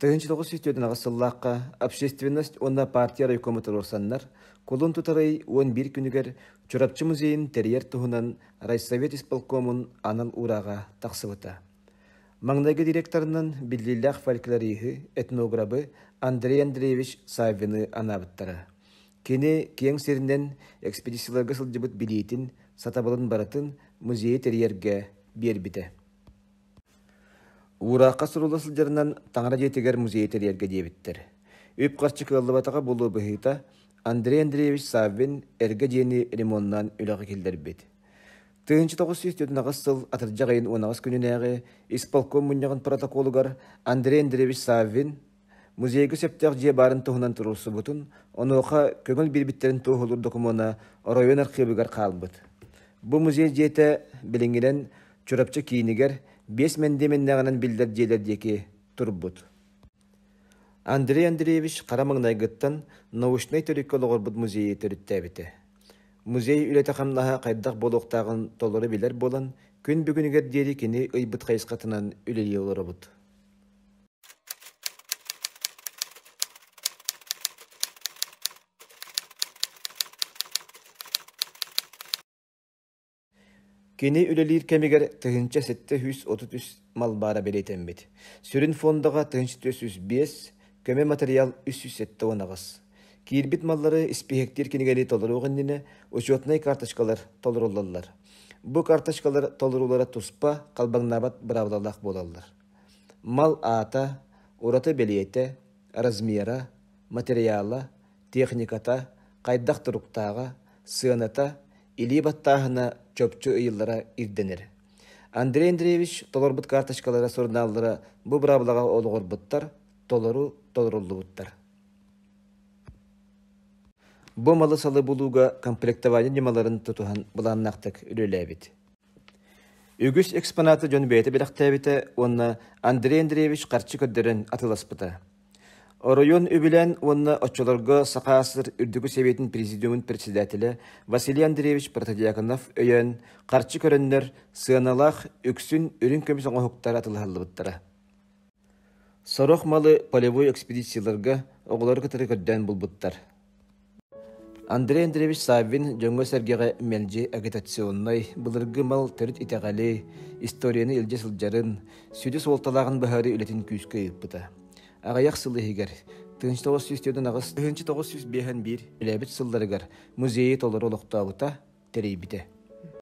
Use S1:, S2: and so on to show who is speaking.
S1: 1904 сыллаахха Общественность уонна партия райкома туруорсаннар кулун тутарый уон биир күнүгэр Чурапчы музейын тэрийэр туһунан райсовет исполкомун анал урааҕа тахсыбыта. Маҥнайгы директорынан биллиилээх фольклориһы, этнограбы Андрей Андреевич Саввины анаабыттара. Кини киэҥ сиринэн экспедицияларга сылдьыбыт билиитин, сатабылын барытын музейы тэрийэргэ биэрбитэ. Уураахха сурулла сылдьарынан таҥара дьиэтигэр музей тэрийэргэ диэбиттэр. Үп-харчы кыаллыбатаҕа буолуо быһыыта, Андрей Андреевич Саввин эргэ дьиэни ремонтнаан үлэҕэ киллэрбит. тыһыынча тоҕус сүүс төрүтүнэҕэс сыл атырдьах ыйын уонаҕас күнүнээҕи исполком мунньаҕын протоколугар Андрей Андреевич Саввин Музейга сөптөөх дьиэ баарын туһунан туруорсубутун, онуоха көҥүл биэрбиттэрин туоһулуур докумуона оройуон архыыбыгар хаалбыт. Бу музей дьиэтэ билиҥҥинэн Чурапчы киинигэр биэс мэндиэмэннээҕинэн биллэр дьиэлэр диэки турбут. Андрей Андреевич хара маҥнайгыттан научнай төрүккэ олоҕурбут музейы төрүттээбитэ. Музей үлэтэ-хамнаһа хайдах буолуохтааҕын толору билэр буолан, күн бүгүнүгэр диэри кини ыйбыт хайысхатынан үлэлии олоробут. Кини үлэлиир кэмигэр тыһыынча сэттэ сүүс отут үс малбаара бэлиэтэммит. Сүрүн фондаҕа тыһыынча түөрт сүүс биэс, көмө матырыйаал үс сүүс сэттэ уон аҕыс. Киирбит маллары испииһэктиир кинигэни толоруох иннинэ учетнай карточкалар толоруллаллар. Бу карточкалар толоруулара туспа, халбаҥнаабат быраабылалаах буолаллар. мал аата, ураты бэлиэтэ, размера, материала, техниката, хайдах туруктааҕа, сыаната, илии баттааһына чопчу ыйыллара ирдэнэр. Андрей Андреевич толорбут карточкалара сурунааллара бу быраабылаҕа олоҕурбуттар, толору толоруллубуттар. Бу малы-салы булууга комплектование ньымаларын тутуһан былааннаахтык үлэлээбит. Үгүс экспонаты дьон бэйэтэ бэлэхтээбитэ уонна Андрей Андреевич харчы көрдөрөн атыыласпыта. Оройуон үбүлээн уонна оччолорго Саха СССР Үрдүкү Сэбиэтин Президиумун председателэ Василий Андреевич Протодьяконов өйөөн, харчы көрөннөр, сыаналаах үксүн үрүҥ көмүс оҥоһуктара атылыһаллыбыттара Сорох малы полевой экспедицияларга оҕолору кытары көрдөөн булбуттар. Андрей Андреевич Саввин дьоҥҥо-сэргэҕэ мэлдьи агитационнай, былыргы мал төрүт итэҕэли, историяны илдьэ сылдьарын, сүдү суолталааҕын быһаарыы үлэтин күүскэ ыыппыта. Аҕыйах сыл иһигэр тыһыынча тоҕус сүүс төрт аҕыс тыһыынча тоҕус сүүс биэһэн биир үлэбит сылларыгар музейы толору олохтообута, тэрийбитэ.